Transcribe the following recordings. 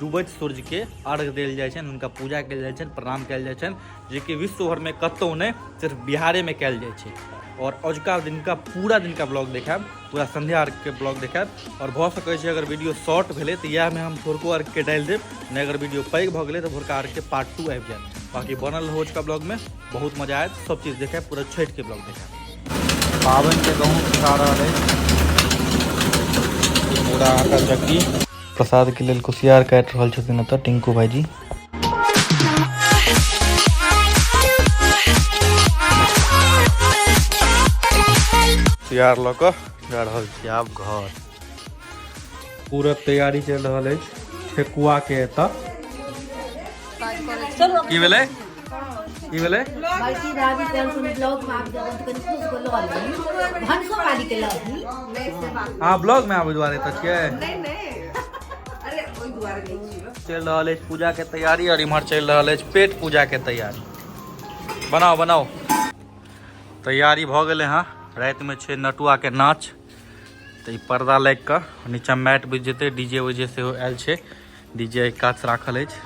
डूबैत सूर्य के अर्घ देल जाय छनि हुनका पूजा कयल जाय छनि प्रणाम कयल जाय छनि जेकि विश्व भर में कतौ नहि सिर्फ बिहारे में कयल जाय छै और अजुका दिन का पूरा दिन का ब्लॉग देखायब पूरा संध्या अर्घ के ब्लॉग देखायब और भऽ सकै छै अगर वीडियो शॉर्ट भेलै तऽ इएह में हम भोरको अर्घ के डालि देब नहि अगर वीडियो पैघ भऽ गेलै तऽ भोरका अर्घ के पार्ट टू आबि जायत बाकी बनल रहू अजुका ब्लॉग में बहुत मजा आयत सब चीज देखायब पूरा छठि के ब्लॉग देखायब पाबनि के गहूँ खा रहल अछि पूरा आटा चक्की प्रसाद के लेल कुशियार काट रहल छथिन एतऽ टिंकू भाईजी कुशियार लऽ कऽ जा रहल छी आब घर पूरा तैयारी चलि रहल अछि ठेकुआ के एतऽ की भेलै की भेलै बड़की दादी कल सुन ब्लॉग में आबि जाओ कनि खुश को लऽ लेब भनसो वाली के लऽ ली नहीं से बात अहाँ ब्लॉग में आबै दुआरे तऽ छियै नहीं नहीं अरे कोई दुआरे नहीं छियो चलि रहल अछि पूजा के तैयारी और इम्हर चलि रहल अछि पेट पूजा के तैयारी बनाओ बनाओ तैयारी भऽ गेलै हँ रातिमे छै नटुआके नाच तऽ ई पर्दा लागि कऽ नीचाँ मैट बिछ जेतै डी जे उजे सेहो आयल छै डी जे काछ राखल अछि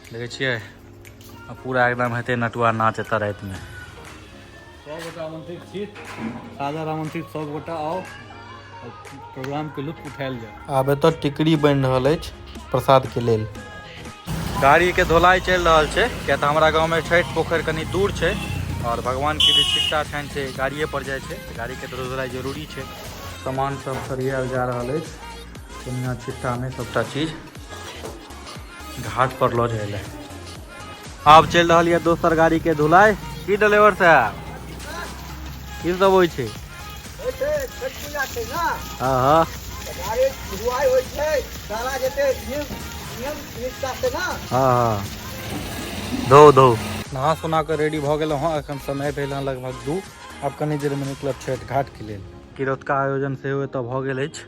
देखै छियै आ पूरा एकदम हेतै नटुआ नाच एतऽ रातिमे सभगोटा आमंत्रित छी सादर आमंत्रित सभगोटा आउ आओर प्रोग्रामके लुत्फ उठायल जाय आब एतऽ टिकड़ी बनि रहल अछि प्रसादके लेल गाड़ीके धोलाई चलि रहल छै किया तऽ हमरा गाँवमे छठि पोखरि कनि दूर छै आओर भगवानके जे छिट्टा छनि से गाड़िए पर जाइ छै तऽ गाड़ीके धो- धोलाई जरूरी छै सामान सब सरियाएल जा रहल अछि कनिया छिट्टामे सभटा चीज घाट पर लऽ जाए ले आब चलि रहल यऽ दोसर गाड़ी के धुलाई की ड्राइवर साहब की सब होइ छै हाँ हाँ हाँ हाँ धो धो नहा सुना के रेडी भऽ गेलहुँ हँ एखन समय भेल हँ लगभग दू आब कनी देर में निकलब छठ घाट के लेल किरौतका आयोजन सेहो एतऽ भऽ गेल अछि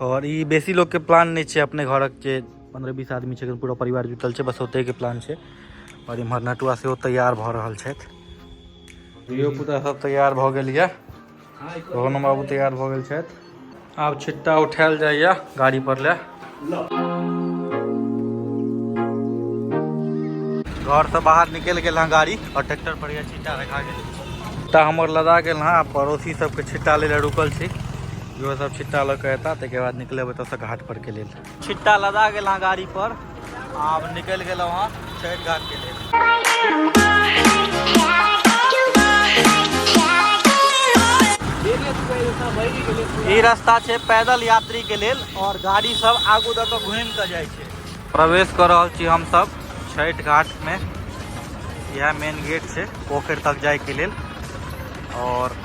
आओर ई बेसी लोकके प्लान नहि छै अपने घरक जे पंद्रह बीस आदमी छै पूरा परिवार जुटल छै बस ओतै के प्लान छै और इम्हर नटुआ से तैयार भ रहल छै धियो पुता सब तैयार भ गेल ये रोहन बाबू तैयार भ गेल छै आब छिट्टा उठायल जाइए गाड़ी पर ले घर से बाहर निकल गए हाँ गाड़ी और ट्रैक्टर पर यह छिट्टा रखा गया तो हमार लदा गए हाँ पड़ोसी सबके छिट्टा ले रुकल छी जो सब छिट्टा लऽ के अता तक बाद निकल तो घाट पर के लिए छिट्टा लदा गेल हँ गाड़ी पर आब निकलि गेलहुँ हँ छठि घाट के लेल ई रास्ता छै पैदल यात्री के लेल और गाड़ी सब आगू दऽ कऽ घूमि कऽ जाइ छै प्रवेश कर रहल छी हम सब छठि घाट में यह मेन गेट छै पोखर तक जाए के लेल और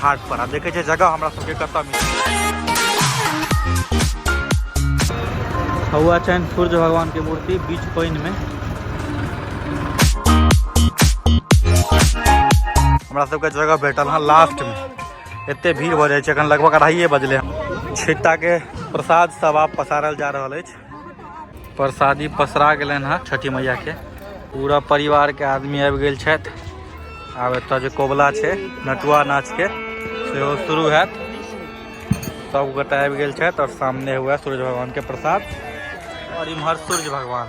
घाट पर आब देखै छै जगह हमरा सबके कतऽ मिलत हौआ छनि सूर्य भगवान के मूर्ति बीच पानि में हमरा सबके जगह भेटल हँ लास्ट में एते भीड़ भऽ जाइ छै एखन लगभग अढ़ाइए बजले हँ छिट्टा के प्रसाद सब आब पसारल जा रहल अछि प्रसादी पसरा गए हैं छठी मैया के पूरा परिवार के आदमी आबि गेल छथि आब एतऽ जे कोबला है नटुआ नाच के सेहो शुरू हैत सब गोटा आबि गेल छथि और सामने हुआ सूर्य भगवान के प्रसाद और इम्हर सूर्य भगवान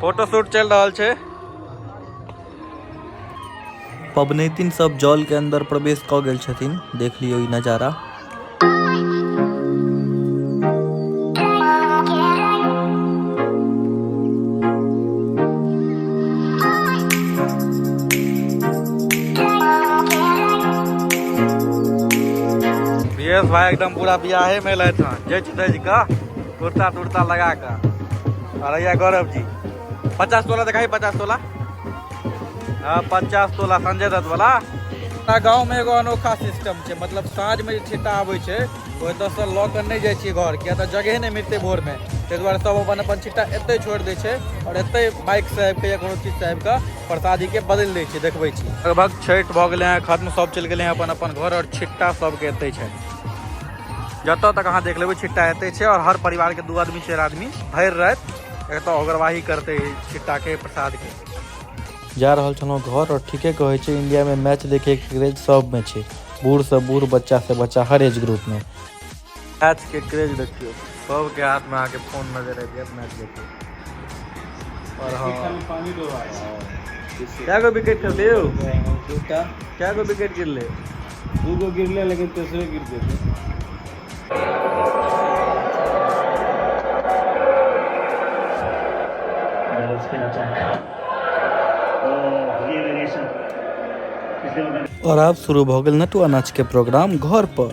फोटो शूट चल रहा है पबनैतिन सब जल के अंदर प्रवेश क गेल छथिन देख लियो ई नजारा भाई एकदम पूरा बियाहे में लैत हन जच तज का कुर्ता तुर्ता लगा कर अरे या गौरव जी पचास तोला दिखाई पचास तोला हाँ पचास तोला संजय दत्त वाला हमरा गाँव में एगो अनोखा सिस्टम छै मतलब साँझ में जे छिट्टा आबै छै ओहि दस से लऽ कऽ नहि जाइ छियै घर किया तऽ जगहे नहि मिलतै भोर में ताहि दुआरे सब अपन अपन छिट्टा एतै छोड़ि दै छै आओर एतै बाइक से आबि कऽ या कोनो चीज से आबि कऽ प्रसादी के बदलि दै छै देखबै छी लगभग छठि भऽ गेलै हैं खत्म सब चलि गेलै हैं अपन अपन घर आओर छिट्टा सबके एतै छै जतऽ तक अहाँ देख लेबै छिट्टा एते छै और हर परिवार के दू आदमी चार आदमी भर रात एतऽ अगरवाही करते छिट्टा के प्रसाद के जा रहल छलहुँ घर और ठीके कहै छै इंडिया में मैच देखे के क्रेज सब में छै बूढ़ से बूढ़ बच्चा से बच्चा हर एज ग्रुप में मैच के क्रेज देखियो सब के हाथ में आके फोन नजर आबि जायत मैच देखियो और हाँ पानी डोबा कए गो विकेट खेलते यौ दूटा कए गो विकेट गिरले दूगो गिरले लेकिन तेसरे गिर जेतै और अब शुरू भऽ गेल नटुआ नाच के प्रोग्राम घर पर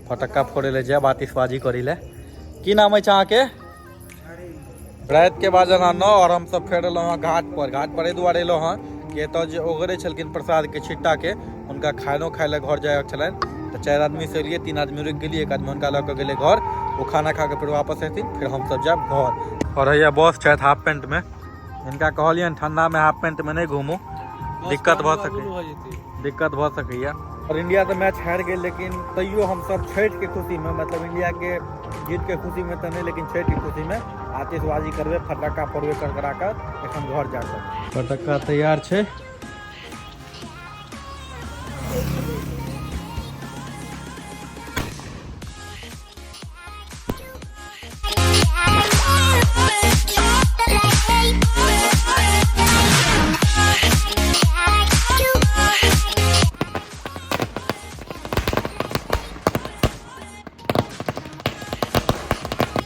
फटक्का फोड़े ले जायब आतिशबाजी करी ले की नाम अछि अहाँके रात के बाजल हँ नौ और हम सब फेर एलहुँ हँ घाट पर घाट पर एहि दुआरे एलहुँ हँ कि एतऽ जे ओगरे छलखिन प्रसाद के छिट्टा के हुनका खानो खाय ले घर जायके छलनि तऽ चारि आदमी से एलियै तीन आदमी रुकि गेलियै एक आदमी हुनका लऽ कऽ गेलै घर ओ खाना खा कऽ फेर वापस एथिन फेर हमसब जायब घर और हैया बॉस छथि हाफ पेंट में इनका कहलियन ठंडा में हाफ पैंट में नहीं घूमू दिक्कत भऽ सकै हो जेतै दिक्कत भऽ सकैया और इंडिया तो मैच हार गए लेकिन तैयो हम सब छठ के खुशी में मतलब इंडिया के जीत के खुशी में तो नहीं लेकिन छठ के खुशी में आतिशबाजी करबे फटाका फोड़बे कर करा कर एखन घर जा कर फटाका तैयार छै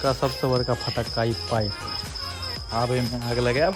का सबसे बड़का फटक्का ई पाइप आब एहिमे आग लगायब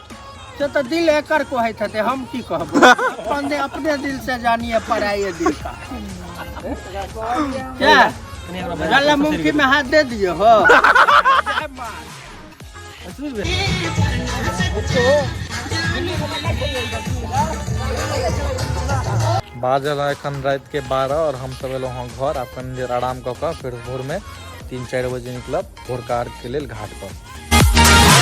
से तऽ दिल एकर कहैत हेतै हम की कहब अपने अपने दिल से जानिए पराये दिल का क्या गला मुंखी में हाथ दे दिए हो जय माँ। बाजल है एखन रात के बारह और हम सब एलो हँ घर आब कनी देर आराम कऽ कऽ फेर भोर में तीन चारि बजे निकलब भोरका अर्घके लेल घाटपर